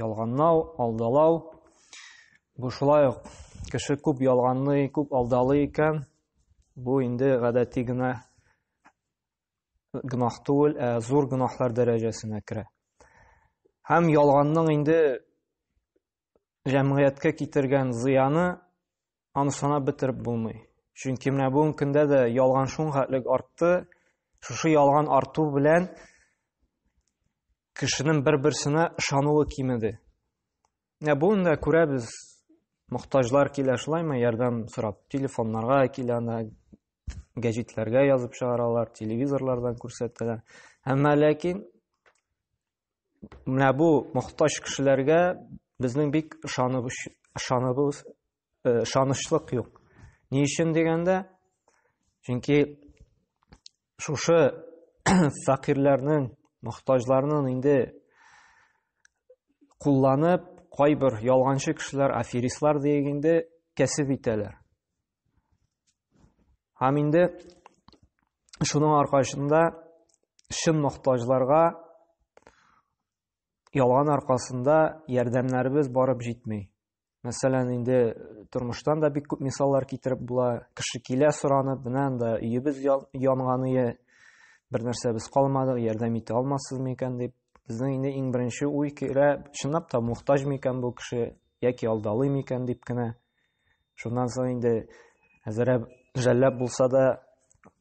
Ялганлау, алдалау. Бу шулай ук кеше күп ялганлый, күп алдалый икән, бу инде гадәти генә гөнаһ түгел, ә зур гөнаһлар дәрәҗәсенә керә. Һәм ялганның инде җәмгыятькә китергән зыяны аны санап бетереп булмый. Чөнки менә бүгенге көндә дә ялган шуңхәтлек артты. Шушы ялган арту белән кешенең бер-берсенә ышануы кимеде. Менә бүген дә күрәбез, мохтаҗлар килә шулаймы ярдәм сорап, телефоннарга килә, гәҗитләргә язып чыгаралар, телевизорлардан күрсәтәләр. Әмма ләкин менә бу мохтаҗ кешеләргә безнең бик ышанып ышаныбыз э, ышанычлык юк. Ни өчен дигәндә, чөнки шушы фәкыйрьләрнең, мохтаҗларның инде кулланып, кайбер ялганчы кешеләр, аферистлар диегенде кәсеп итәләр. Һәм инде шуның аркасында чын мохтаҗларга ялган аркасында ярдәмнәребез барып җитми. Мәсәлән, инде тормыштан да бик күп мисаллар китереп була. Кеше килә соранып, менә анда өебез янганы, бер нәрсә без калмадык, ярдәм итә алмассыз микән дип. Безнең инде иң беренче уй килә, чынлап та мохтаҗ микән бу кеше яки алдалый микән дип кенә. Шуннан соң инде әзерәп жәлләп булса да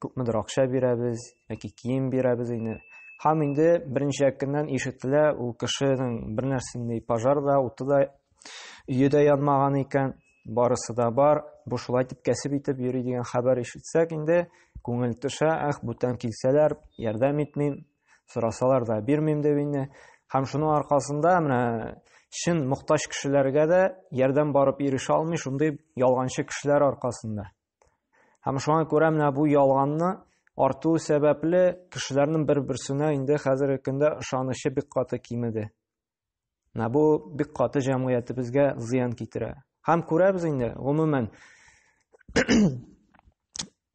күпмедер акча бирәбез, яки кием бирәбез инде. Һәм инде берничә көннән ишетелә, ул кешенең бер нәрсендәй пожар да, уты да, өе дә янмаган икән, барысы да бар, бу шулай дип кәсеп итеп йөри дигән хәбәр ишетсәк инде, күңел төшә, ах, бүтән килсәләр, ярдәм итмим, сорасалар да бирмим дип инде һәм шуның аркасында менә чын мохтаҗ кешеләргә дә ярдәм барып ирешә алмый шундый ялганчы кешеләр аркасында һәм шуңа күрә менә бу ялганны арту сәбәпле кешеләрнең бер-берсенә инде хәзерге көндә ышанычы бик каты кимеде Менә бу бик каты җәмгыятебезгә зыян китерә. Һәм күрәбез инде, гомумән,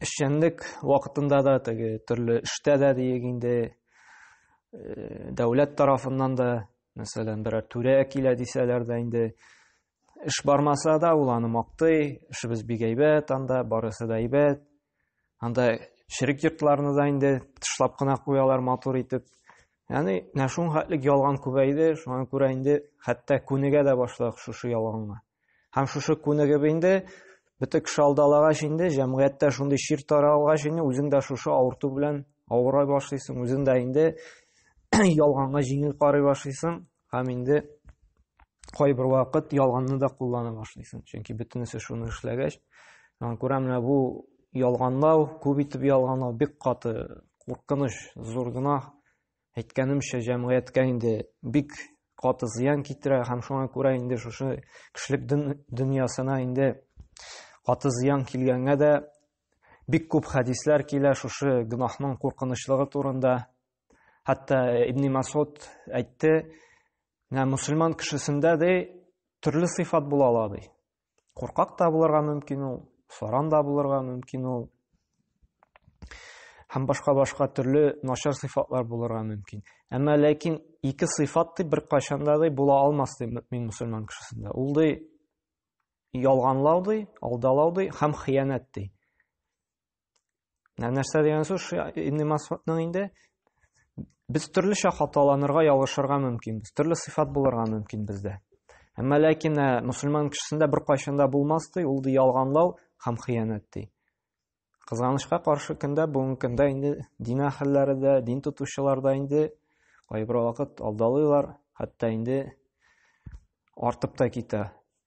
эшчәнлек вакытында да, теге төрле эштә дә диек инде, э, дәүләт тарафыннан да, мәсәлән, берәр түрә килә дисәләр дә инде, эш бармаса да, ул аны мактый, эшебез бик әйбәт анда, барысы да әйбәт, Анда ширек йортларны да инде тышлап кына куялар матур итеп. Яни, менә шуның хәтлек ялган күбәйде, шуңа күрә инде хәтта күнегә дә башладык шушы ялганга. Һәм шушы күнегеп инде бөтен кеше алдалагач инде җәмгыятьтә шундый чир таралгач инде үзең дә шушы авырту белән авырай башлыйсың, үзең дә инде ялганга җиңел карый башлыйсың, Һәм инде кайбер вакыт ялганны да куллана башлыйсың. Чөнки бөтенесе шуны эшләгәч, аны күрә менә бу ялганлау, күп итеп ялганлау бик каты куркыныч, зур гөнаһ. Әйткәнемчә, җәмгыятькә инде бик каты зыян китерә һәм шуңа күрә инде шушы кешелек дөньясына инде каты зыян килгәнгә дә бик күп хәдисләр килә шушы гөнаһның куркынычлыгы турында. Хәтта Ибни Масуд әйтте, менә мусульман кешесендә дә төрле сыйфат була ала ди. Куркак та булырга мөмкин ул, саран да булырга мөмкин ул. Һәм башка башка төрле начар сыйфатлар булырга мөмкин. Әмма ләкин ике сыйфат ди бер кайшанда да була алмас ди мөмин мусульман кешесендә. Ул ди ялганлау ди, алдалау ди һәм хыянәт ди. нәрсә дигән сүз ибн масудның инде без төрлечә хаталанырга ялгышырга мөмкинбез төрле сыйфат булырга мөмкин бездә әмма ләкин ә, мөселман кешесендә беркайчан да булмас ди ул ди ялганлау һәм хыянәт ди кызганычка каршы көндә бүгенге көндә инде дин әһелләре дә дин тотучылар да инде кайбер вакыт алдалыйлар хәтта инде артып та китә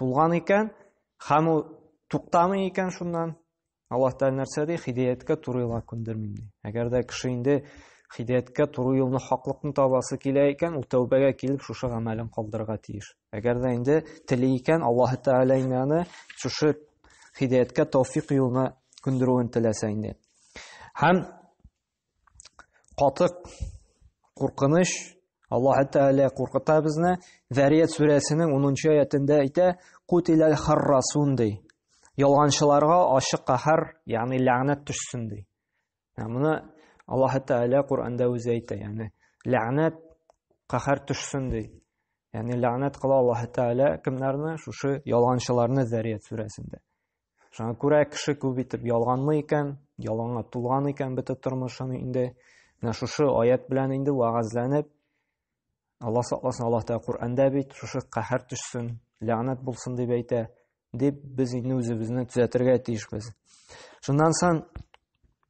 тулган икән һәм ул туктамый икән шуннан аллаһ тәғәлә нәрсә ди хидаяткә туры юлга күндермим ди әгәр дә кеше инде хидаяткә туры юлны хаклыкны табасы килә икән ул тәүбәгә килеп шушы гамәлен калдырырга тиеш әгәр дә инде тели икән аллаһ тәғәлә инде аны шушы хидаяткә тәүфиқ юлына күндерүен теләсә инде һәм катык куркыныч аллаһ тәгалә куркыта безне зәрият сүрәсенең унынчы аятендә әйтә кутиләл харрасун ди ялганчыларга ачык каһәр ягъни ләгънәт төшсен ди моны аллаһ тәгалә коранда үзе әйтә ягъни ләгънәт каһәр төшсен ди ягъни ләгънәт кыла аллаһ тәгалә кемнәрне шушы ялганчыларны зәрият сүрәсендә Шуңа күрә кеше күп итеп ялганлы икән, ялганга тулган икән бөтен тормышын инде. Менә шушы аят белән инде вагазланып, Алла сакласын, Аллаһ Тәгалә Коръәндә бит, шушы каһәр төшсен, ләгънәт булсын дип әйтә, дип без инде үзебезне төзәтергә тиешбез. Шуннан соң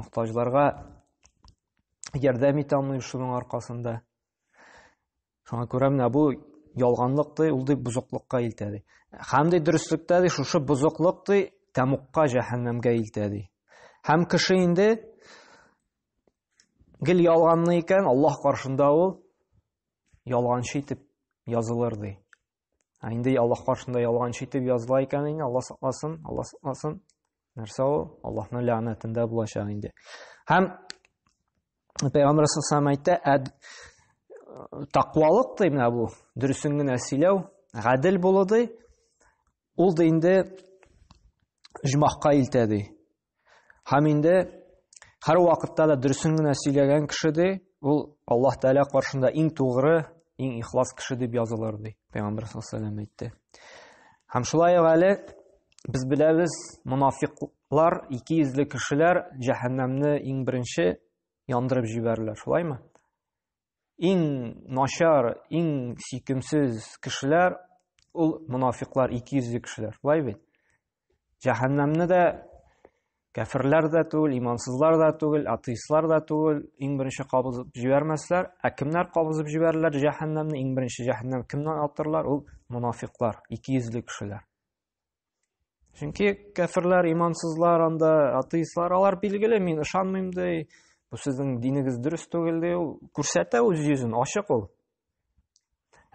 мохтаҗларга ярдәм итә алмый шуның аркасында шуңа күрә менә бу ялганлык ди ул ди бозыклыкка илтә ди һәм ди дөреслектә ди шушы бозыклык ди тәмукка җәһәннәмгә илтә ди һәм кеше инде гел ялганлы икән аллаһ каршында ул ялганчы итеп язылыр ди Ә инде Аллаһ каршында ялганчы итеп языла икән инде, Аллаһ сакласын, Аллаһ сакласын. Нәрсә ул? Аллаһның ләгънәтендә булачак инде. Һәм Пәйгамбер саллаллаху әйтте, әд тақвалык ди менә бу, дөресен генә сөйләү, гадел булу ди. Ул да инде җмахка илтә ди. Һәм инде һәр вакытта да дөресен генә сөйләгән кеше ди, ул Аллаһ Тәгалә каршында иң тугры, иң ихлас кеше дип язылыр ди. Пәйгамбер саллаллаху алейһи ва сәлләм әйтте. Һәм шулай ук әле без беләбез, мунафиклар, ике йөзле кешеләр җәһәннәмне иң беренче яндырып җибәрерләр, шулаймы? иң начар, иң сөйкемсез кешеләр ул мунафиклар, икейөзле кешеләр. Былай бит. Җәһәннәмне дә кәфирләр дә түгел, имансызлар да түгел, атеистлар да түгел, иң беренче кабызып җибәрмәсләр. Ә кемнәр кабызып җибәрерләр җәһәннәмне? Иң беренче җәһәннәм кемнән атырлар? Ул мунафиклар, икейөзле кешеләр. Чөнки кәферләр, имансызлар, анда атеистлар, алар билгеле, мин ышанмыйм ди. Бу сезнең динегез дөрес түгел ди. Ул күрсәтә үз йөзен, ачык ул.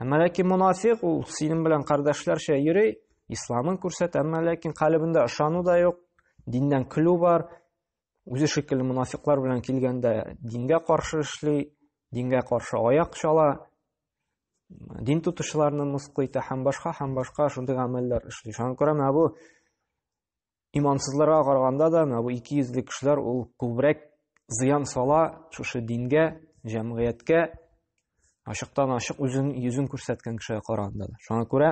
Әмма ләкин мунафик ул синең белән кардәшләрчә йөри, исламын күрсәтә, әмма ләкин калыбында ышану да юк, диннән көлү бар. Үзе шикелле мунафиклар белән килгәндә дингә каршы эшли, дингә каршы аяк чала. дин тотучыларны мыскыл итә һәм башка һәм башка шундый гамәлләр эшли шуңа күрә менә бу имансызларга караганда да менә бу ике йөзле кешеләр ул күбрәк зыян сала шушы дингә җәмгыятькә ачыктан ачык үзен йөзен күрсәткән кешегә караганда да шуңа күрә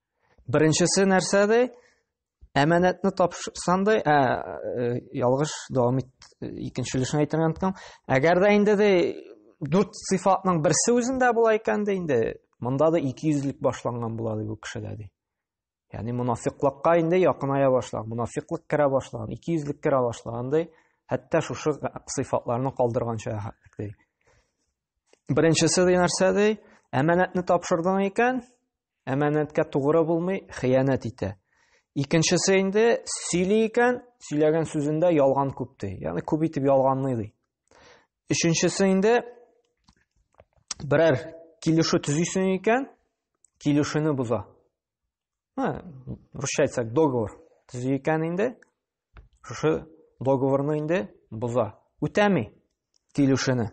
Беренчесе нәрсә ди? Әманәтне тапшырсан ди, ә э, ялгыш дәвам ит, икенче өлешен әйтергә онытам. Әгәр дә инде ди дүрт сыйфатның берсе үзендә була икән дә инде, монда да икейөзлек башланган була ди бу кешедә ди. Ягъни мунафиклыкка инде якыная башлаган, мунафиклык керә башлаган, икейөзлек керә башлаган ди. Хәтта шушы сыйфатларны калдырганча ди. Беренчесе ди нәрсә ди? Әманәтне тапшырдың икән, әманәткә тугры булмый, хыянәт итә. Икенчесе инде сөйли икән, сөйләгән сүзендә ялган күп ди. Ягъни күп итеп ялганлый ди. Өченчесе инде берәр килешү төзисең икән, килешүне боза. Һә, русча әйтсәк, договор төзи икән инде, шушы договорны инде боза. Үтәми килешүне.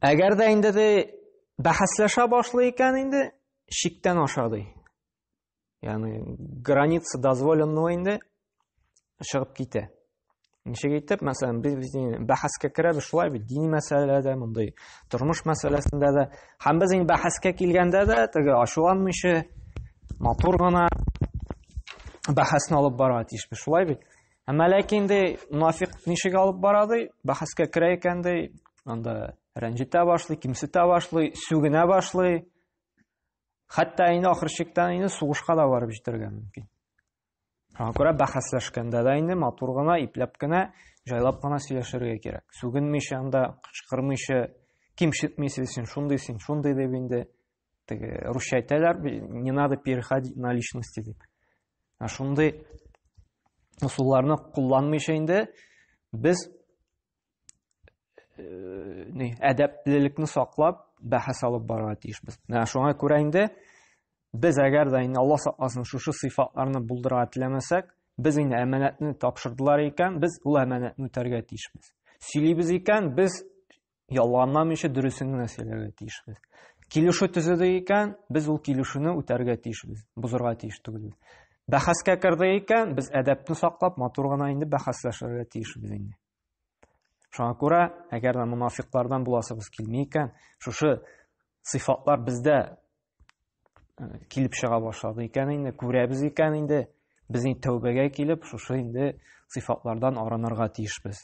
Әгәр дә инде ди бәхәсләшә башлый икән инде шиктән аша ди. Ягъни граница дозволенного инде чыгып китә. Ничек итеп, мәсәлән, без без бәхәскә керәбез шулай бит, дини мәсьәләдә, мондый тормыш мәсьәләсендә дә. Һәм без инде бәхәскә килгәндә дә теге ачуланмыйча матур гына бәхәсне алып барырга тиешбез, шулай бит? Әмма ләкин инде мунафик ничек алып бара ди, бәхәскә керә икән ди, анда рәнҗетә башлый, кимсетә башлый, сүгенә башлый. Хәтта инде ахыр чиктән инде сугышка да барып җитәргә мөмкин. Шуңа күрә бәхәсләшкәндә дә инде матур гына, ипләп кенә, җайлап кына сөйләшергә кирәк. Сүгенмичә анда, кычкырмыйча, кимсетмичә син шундый, син шундый дип инде теге русча әйтәләр не надо переходить на личности дип ә шундый ысулларны кулланмыйча инде без ни әдәплелекне саклап бәхәс алып барырга тиешбез менә шуңа күрә инде без әгәр дә инде алла сакласын шушы сыйфатларны булдырырга теләмәсәк без инде әманәтне тапшырдылар икән без ул әманәтне үтәргә тиешбез сөйлибез икән без ялганламыйча дөресен генә сөйләргә тиешбез. Килешү төзеде икән, без ул килешүне үтәргә тиешбез, бозырга тиеш түгел. Бәхәскә керде икән, без әдәпне саклап, матур гына инде бәхәсләшергә тиешбез инде. Шуңа күрә, әгәр дә мунафиклардан буласыбыз килми икән, шушы сыйфатлар бездә э, килеп чыга башлады икән инде, күрәбез икән инде, без инде тәүбәгә килеп, шушы инде сыйфатлардан арынырга тиешбез.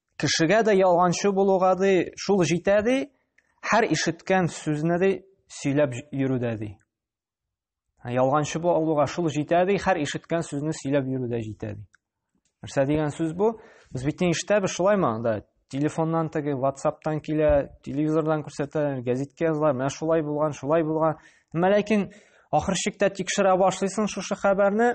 Кешегә дә ялганчы булуга ди, шул җитә ди, һәр ишеткән сүзне ди сөйләп йөрүдә ди. Ялганчы булуга шул җитә ди, һәр ишеткән сүзне сөйләп йөрүдә җитә ди. Нәрсә дигән сүз бу? Без бит не ишетәбез шулаймы анда? Телефоннан теге, WhatsApp-тан килә, телевизордан күрсәтә, газетка язалар, менә шулай булган, шулай булган. Әмма ләкин ахыр чиктә тикшерә башлыйсың шушы хәбәрне,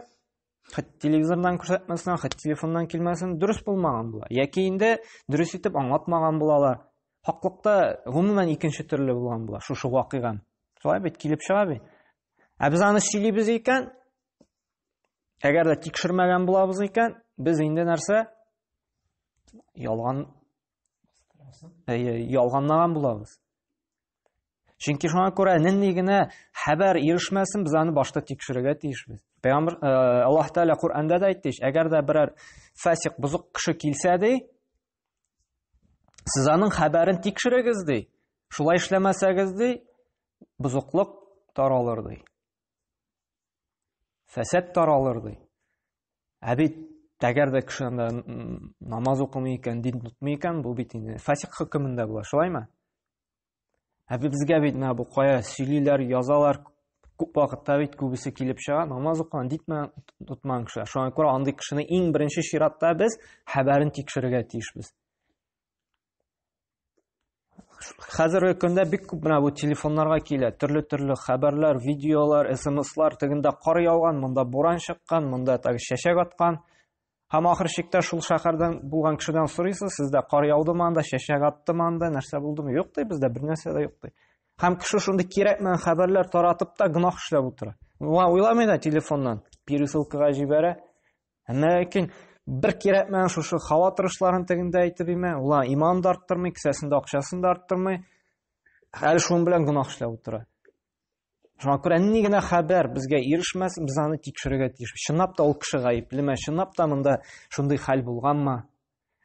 Хәт телевизордан күрсәтмәсен, хәт телефоннан килмәсен, дөрес булмаган була. Яки инде дөрес итеп аңлатмаган булалар. Хаклыкта гомумән икенче төрле булган була шушы вакыйга. Шулай бит килеп чыга бит. Ә без аны сөйлибез икән, әгәр дә тикшермәгән булабыз икән, без инде нәрсә? Ялган Әйе, ялганлаган булабыз. Чөнки шуңа күрә нинди генә хәбәр ирешмәсен, без аны башта тикшерергә тиешбез. Пәйгамбер э, Аллаһ Тәгалә Коръәндә дә әйтте, әгәр дә берәр фасик бузык кеше килсә ди, сез аның хәбәрен тикшерегез ди. Шулай эшләмәсәгез ди, бузыклык таралыр ди. Фәсәт таралыр, ди. Ә бит әгәр дә кеше анда намаз укымый икән, дин тотмый икән, бу бит инде фасик хөкемендә була, шулаймы? Ә безгә бит менә бу кая сөйлиләр, язалар, күп вакытта бит күбесе килеп чыга, намаз укыган дитмә тотмаган кеше. Шуңа күрә андый кешене иң беренче чиратта без хәбәрен тикшерергә тиешбез. хәзерге көндә бик күп менә бу телефоннарга килә төрле төрле хәбәрләр видеолар смслар тегендә кар яуган монда буран чыккан монда так чәчәк аткан һәм ахыр чиктә шул шәһәрдән булган кешедән сорыйсыз сездә кар яудымы анда чәчәк аттымы анда нәрсә булдымы юк ди бездә бернәрсә дә юк ди һәм кеше шундый кирәкмәгән хәбәрләр таратып та гөнаһ эшләп утыра уйламый да телефоннан пересылкага җибәрә Ләкин бер кирәкмәгән шушы һава торышларын тегендә әйтеп имә, улар иман да арттырмый, кесәсендә акчасын да арттырмый. Хәл шуның белән гунах эшләп утыра. Шуңа күрә ни генә хәбәр безгә ирешмәс, без аны тикшерергә тиеш. Чынлап та ул кеше гаеплеме? Чынлап та монда шундый хәл булганмы?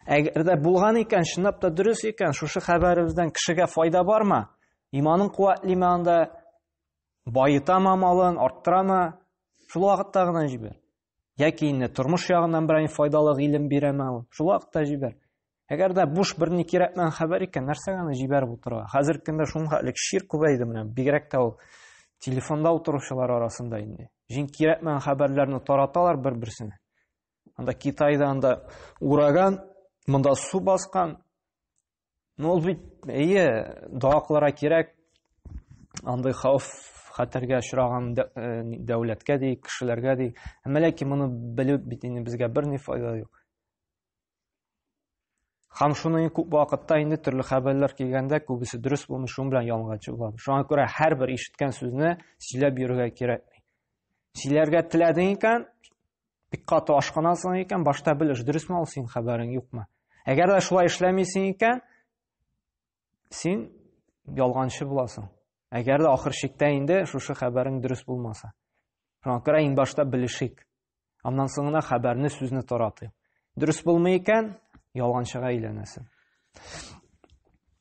Әгәр дә булган икән, чынлап та дөрес икән, шушы хәбәребездән кешегә файда бармы? Иманын куәтлиме анда? Баетамы малын, арттырамы? Шул вакытта гына җибәр. Яки инде тормыш ягыннан берәй файдалы гыйлем бирәме ул? Шул вакытта җибәр. Әгәр дә буш бер ни кирәкмәгән хәбәр икән, нәрсәгә аны җибәреп утырырга? Хәзерге көндә шуңа элек шир күбәйде менә, бигрәк тә ул телефонда утыручылар арасында инде. Җин кирәкмәгән хәбәрләрне тараталар бер-берсенә. Анда Китайда анда ураган, монда су баскан, Ну, ул бит, әйе, дога кылырга кирәк. Андый хауф хәтәргә очраган э, дәүләткә ди, кешеләргә ди. Әмма ләкин моны белү бит инде безгә берни файда юк. Хам шуны күп вакытта инде төрле хәбәрләр килгәндә күбесе дөрес булмый, шуның белән ялганчы булам. Шуңа күрә һәрбер ишеткән сүзне сөйләп йөрергә кирәк. Сөйләргә теләдең икән, Бик каты ашкынасың икән, башта белеш, дөресме ул син хәбәрең юкмы? Әгәр дә шулай эшләмисең икән, син ялганчы буласың. Әгәр дә ахыр чиктә инде шушы хәбәрең дөрес булмаса. Шуңа күрә иң башта белешик. Аннан соң гына хәбәрне, сүзне таратыйк. Дөрес булмый икән, ялганчыга әйләнәсең.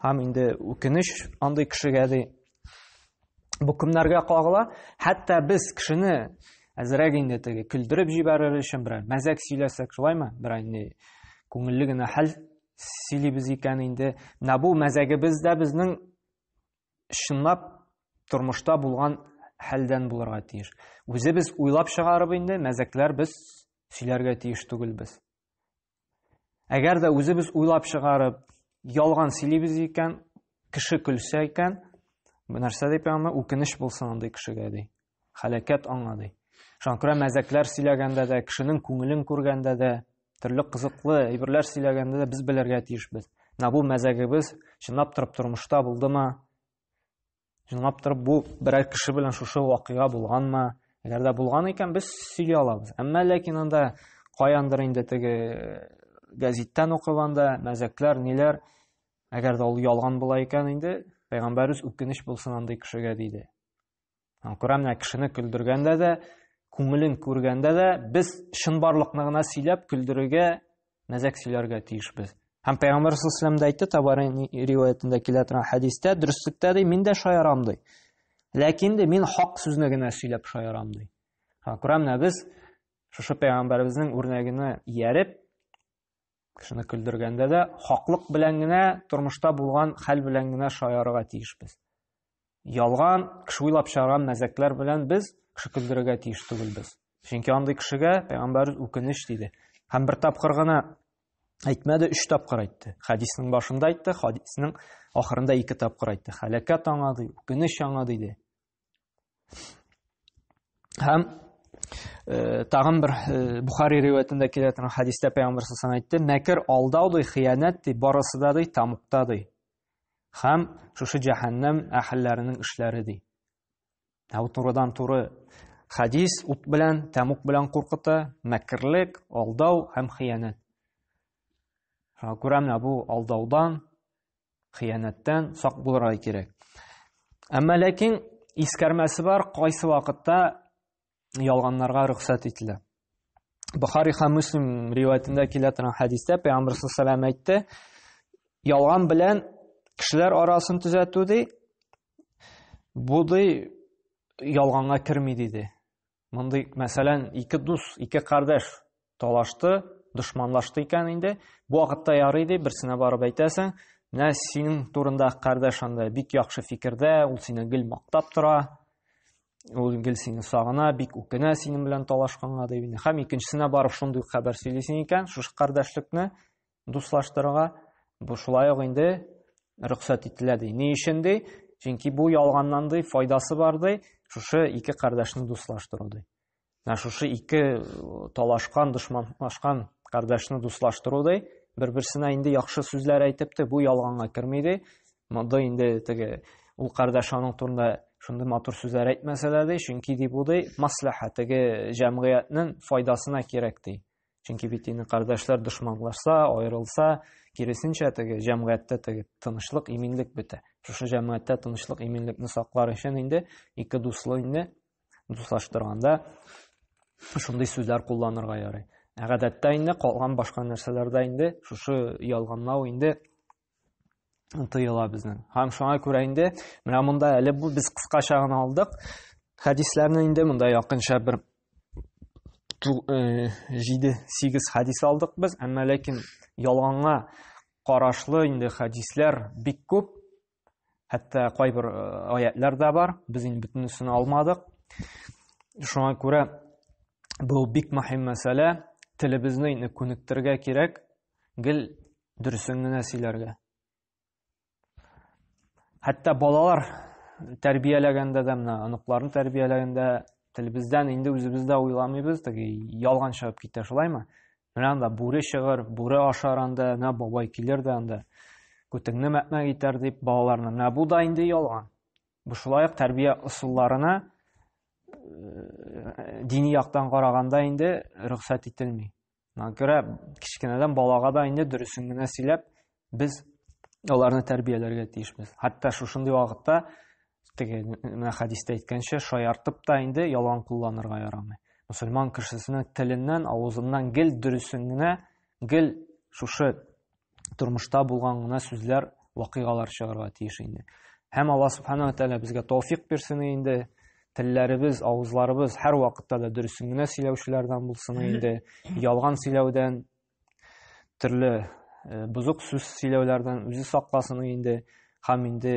Һәм инде үкенеч андый кешегә ди. Бу кемнәргә кагыла? Хәтта без кешене әзрәк инде теге көлдереп җибәрер өчен берәр мәзәк сөйләсәк, шулаймы? Берәр инде күңелле генә хәл сөйлибез икән инде. Менә бу мәзәгебез дә безнең чынлап тормышта булган хәлдән булырга тиеш. Үзебез уйлап чыгарып инде мәзәкләр без сөйләргә тиеш түгелбез. Әгәр дә үзебез уйлап чыгарып, ялган сөйлибез икән, кеше көлсә икән, бу нәрсә дип аңа үкенеч булсын андый кешегә ди. Халәкәт аңа ди. Шуңа күрә мәзәкләр сөйләгәндә дә, кешенең күңелен күргәндә дә, төрле кызыклы әйберләр сөйләгәндә дә без белергә тиешбез. Менә бу мәзәгебез чынлап торып тормышта булдымы? Чынлап торып, бу берәр кеше белән шушы вакыйга булганмы? Әгәр дә булган икән, без сөйли алабыз. Әмма ләкин анда каяндыр инде теге э, газеттан укып анда мәзәкләр, ниләр, әгәр дә ул ялган була икән инде, пәйгамбәрбез үкенеч булсын андый кешегә диде. Күрәм, менә кешене көлдергәндә дә, күңелен күргәндә дә без чынбарлыкны гына сөйләп көлдерергә мәзәк сөйләргә тиешбез. Һәм Пәйгамбәр саллаллаһу алейһи дә әйтте, Табари риваятендә килә торган хәдистә, дөреслектә ди, мин дә шаярам ди. Ләкин ди, мин хак сүзне генә сөйләп шаярам ди. Ха, күрәмнә без шушы Пәйгамбәребезнең үрнәгенә ияреп, кешене көлдергәндә дә хаклык белән генә, тормышта булган хәл белән генә шаярырга тиешбез. Ялган, кеше уйлап чыгарган мәзәкләр белән без кеше көлдерергә тиеш түгелбез. Чөнки андый кешегә пәйгамбәр үкенеч диде. Һәм бер тапкыр гына әйтмәде, өч тапкыр әйтте. Хәдиснең башында әйтте, хәдиснең ахырында ике тапкыр әйтте. Хәләкәт аңа ди, үкенеч аңа диде. Һәм э, тагын бер э, Бухари риваятендә килә торган хәдистә пәйгамбәр сасам әйтте, мәкер алдау ди, хыянәт ди, барысы да ди, тамукта ди. Хәм шушы җәһәннәм әһелләренең эшләре ди. Ә бу турыдан туры хадис ут белән, тәмук белән куркыта, мәкерлек, алдау һәм хыянәт. Шуңа күрә менә бу алдаудан, хыянәттән сак булырга кирәк. Әмма ләкин искәрмәсе бар, кайсы вакытта ялганнарга рөхсәт ителә. Бухари һәм Муслим риваятендә килә торган хәдистә Пәйгамбәр саллаллаху әйтте, ялган белән кешеләр арасын төзәтү ди, бу ди ялганга керми диде. Мондый, мәсәлән, ике дус, ике кардәш Талашты, дошманлашты икән инде. Бу вакытта ярый ди, берсенә барып әйтәсең, менә синең турында кардәш анда бик яхшы фикердә, ул сине гел мактап тора, ул гел сине сагына, бик үкенә синең белән талашканга дип инде. Һәм икенчесенә барып шундый хәбәр сөйлисең икән, шушы кардәшлекне дуслаштырырга. Бу шулай ук инде рөхсәт ителә ди. Ни өчен ди? Чөнки бу ялганнан ди, файдасы бар ди, шушы ике кардәшне дуслаштыру ди. Менә шушы ике талашкан, дошманлашкан кардәшне дуслаштыру ди. Бер-берсенә инде яхшы сүзләр әйтеп те, бу ялганга керми ди. Монда инде теге ул кардәш аның турында шундый матур сүзләр әйтмәсә дә ди, чөнки ди бу ди маслаха теге җәмгыятьнең файдасына кирәк ди. Чөнки бит инде кардәшләр дошманлашса, аерылса, киресенчә теге җәмгыятьтә теге тынычлык, иминлек бетә. Шушы җәмгыятьтә тынычлык, иминлекне саклар өчен инде ике дуслы инде Дуслаштырганда шундый сүзләр кулланырга ярый. Ә гадәттә инде калган башка нәрсәләрдә инде шушы ялганлау инде тыела безнең. Һәм шуңа күрә инде менә монда әле бу без кыскача гына алдык. Хәдисләрне инде монда якынча бер 7-8 э, хәдис алдык без, әмма ләкин ялганга карашлы инде хәдисләр бик күп. Хәтта кайбер э, аятлар да бар, без инде бөтенесен алмадык. Шуңа күрә бу бик мөһим мәсьәлә, телебезне инде күнектергә кирәк, гел дөресен генә сөйләргә. Хәтта балалар тәрбияләгәндә дә, менә оныкларны тәрбияләгәндә телебездән инде үзебез дә уйламыйбыз, теге ялган чыгып китә шулаймы? Менә анда бүре чыгыр, бүре ашар анда, менә бабай килер дә анда. Күтеңне мәкмәк итәр дип балаларны. Менә бу да инде ялган. Бу шулай ук тәрбия ысулларына э, дини яктан караганда инде рөхсәт ителми. Мына күрә кечкенәдән балага да инде дөресен генә сөйләп, Без аларны тәрбияләргә тиешбез. Хәтта шушындый вакытта теге менә хәдистә әйткәнчә шаяртып та инде ялган кулланырга ярамый. Мусульман кешесенең теленнән, авызыннан гел дөресен генә, гел шушы тормышта булган гына сүзләр, вакыйгалар чыгарга тиеш инде. Һәм Алла субханала тәгалә безгә тауфик бирсен инде телләребез, авызларыбыз һәр вакытта да дөресен генә сөйләүчеләрдән булсын инде. Ялган сөйләүдән төрле э, бозык сүз сөйләүләрдән үзе сакласын инде һәм инде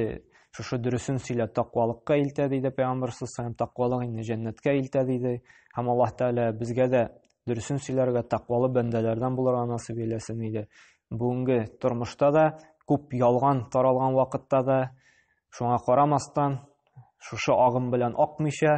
шушы дөресен сөйлә тақвалыкка илтә диде пәйгамбәр һәм тақвалык инде җәннәткә илтә диде һәм аллаһ тәгалә безгә дә дөресен сөйләргә тақвалы бәндәләрдән булырга насыйп әйләсен иде бүгенге тормышта да күп ялган таралган вакытта да шуңа карамастан шушы агым белән акмыйча